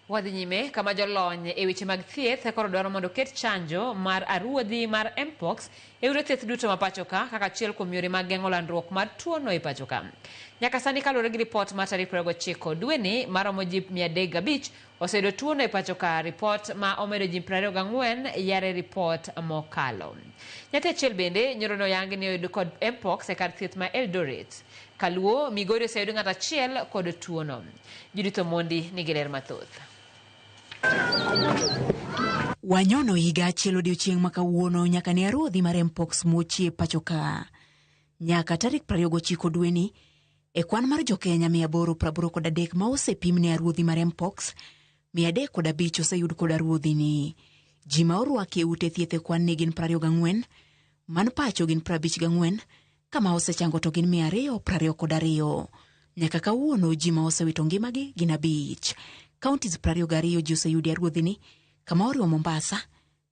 Wadhi nyime kama jolony e weche mag thieth koro dwaro mondo oket chanjo mar aruodhi mar mpox e ute thieth duto ma pachoka kaka achiel kuom yore mag geng'o landruok mar tuono e pachoka. Nyaka sani kaluwore gi ripot ma tarik 29 dweni maromo ji 305 oseyudo tuono e pachoka ripot ma omedo ji 24 yare ripot mokalo. Nyathi achiel bende nyoro ne oyangi ni oyud kod mpox e kar thieth ma Eldoret. Kaluo, Migori oseyud ng'at achiel kod tuono. Judith Omondi nigi ler mathoth. Wanyono higa achiel odiochieng' makawuono nyaka ne aruodhi mar mpox mochie e pacho ka. Nyaka tarik 29 dweni, e kwan mar jokenya 883 ma osepim ne aruodhi mar mpox, 305 oseyud kod aruodhini. Ji ma orwaki e ute thieth e kwan ne gin 24, man pacho gin 54, ka ma osechango to gin mia ariyo prariyo kod ariyo. Nyaka kawuono ji ma osewito ngimagi gin abich. Counties prariyo gariyo ji oseyudi e ruodhini, kama oriwo Mombasa,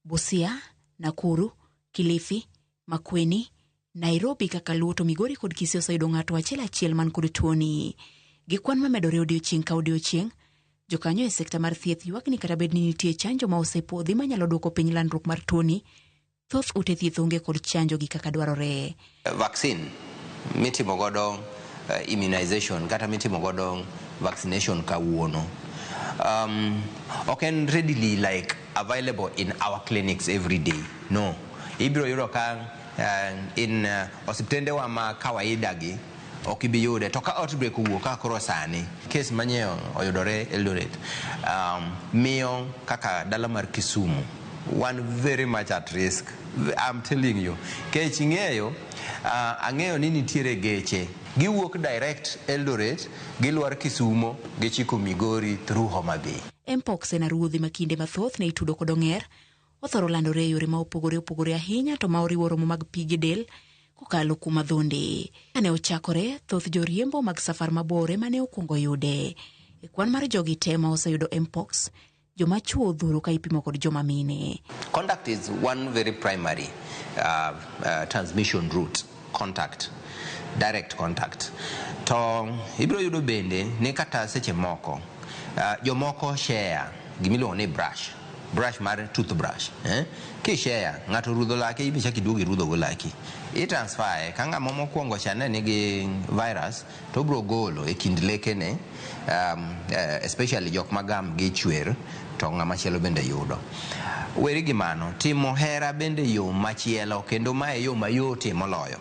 Busia, Nakuru, Kilifi, Makweni, Nairobi kaka Luo to Migori kod Kisii oseyudo ng'ato achiel achiel man kod tuoni. Gi kwan ma medore odiochieng' ka odiochieng', jokanyo e sekta mar thieth ywak ni kata bed ni nitie chanjo ma osepwodhi manyalo duoko piny landruok mar tuoni, Thoth ute thieth onge kod chanjo gi kaka dwarore. Vaccine mitimo godo uh, immunization kata mitimo godo vaccination kawuono um, ok en readily like available in our clinics every day no ibiro yudo ka uh, in uh, osiptendewa ma kawaida gi Ok ibi yude. To ka outbreak owuok kaka koro sani, case manyeo oyudore Eldoret, um, miyo kaka dala mar Kisumu wan very much at risk. I'm telling you. Kech ing'eyo, uh, ang'eyo ni nitiere geche. Giwuok direct Eldoret, gilwar Kisumo, gichiko Migori through Homa Bay. Mpox en aruodhi ma kinde mathoth ne itudo kod ong'er. Othoro landore e yore ma opogore opogore ahinya to ma oriwo romo mag pi gi del kokalo kuom adhonde. Kane ochakore, thoth joriembo mag safar mabor ema ne okwongo yude. E kwan mar jogi te ma oseyudo mpox, joma chwo odhuro ka ipimo kod joma mine. Conduct is one very primary uh, uh, transmission route. contact, direct contact. To ibiro yudo bende ni kata seche moko uh, jomoko share gimiluongo ni brush brush mar toothbrush eh? kishare ng'ato rudho lake ibi chak iduog irudhogo laki i transfer e ka ng'ama mokwongo cha ne nigi virus To obiro golo e kind lekene, um, eh, especially jok ma gamgi chwer, to ng'ama chielo bende yudo. Weri gi mano, timo hera bende yo machielo, kendo ma e yo mayot e moloyo.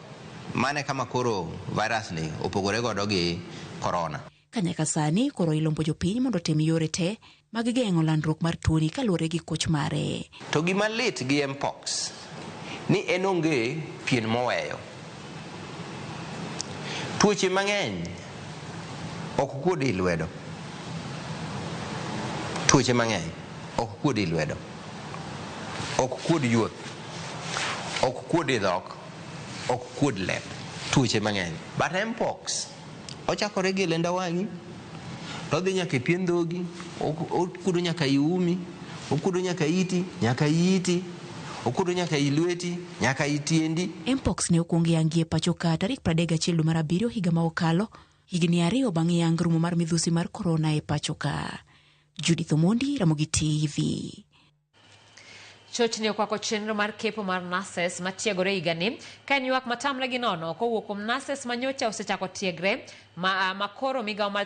Mano e kama koro virus ni opogore godo gi korona. Ka nyaka sani koro ilombo jopiny mondo otim yore te mag geng'o landruok mar tuoni kaluore gi koch mare. To gima lit gi Mpox ni en onge pien moweyo. Tuoche mang'eny ok kuod ii lwedo. Tuoche mang'eny ok kuod ii lwedo. Ok kuod yuoth. Ok kuod ii dhok. Ok kuod lep. Tuoche mang'eny. But Mpox. Ochakore gi lenda wang'i, to odhi nyaka e pien dhogi, ok- okudo nyaka i umi, okudo nyaka iti, nyaka i iti, okudo nyaka i lweti, nyaka i tiendi. Mpox ne okwong yangi e pachoka tarik 31 dwe mar abiriyo higa ma okalo, higni ariyo bang' yang rumo mar midhusi mar korona e pachoka. Judith Omondi, Ramogi TV. Chochni okwako chenro mar kepo mar nurses matiegore higani ka en ywak matamre gi nono kowuok kuom nurses manyocha osechako tiegre ma, ma koro migawo mar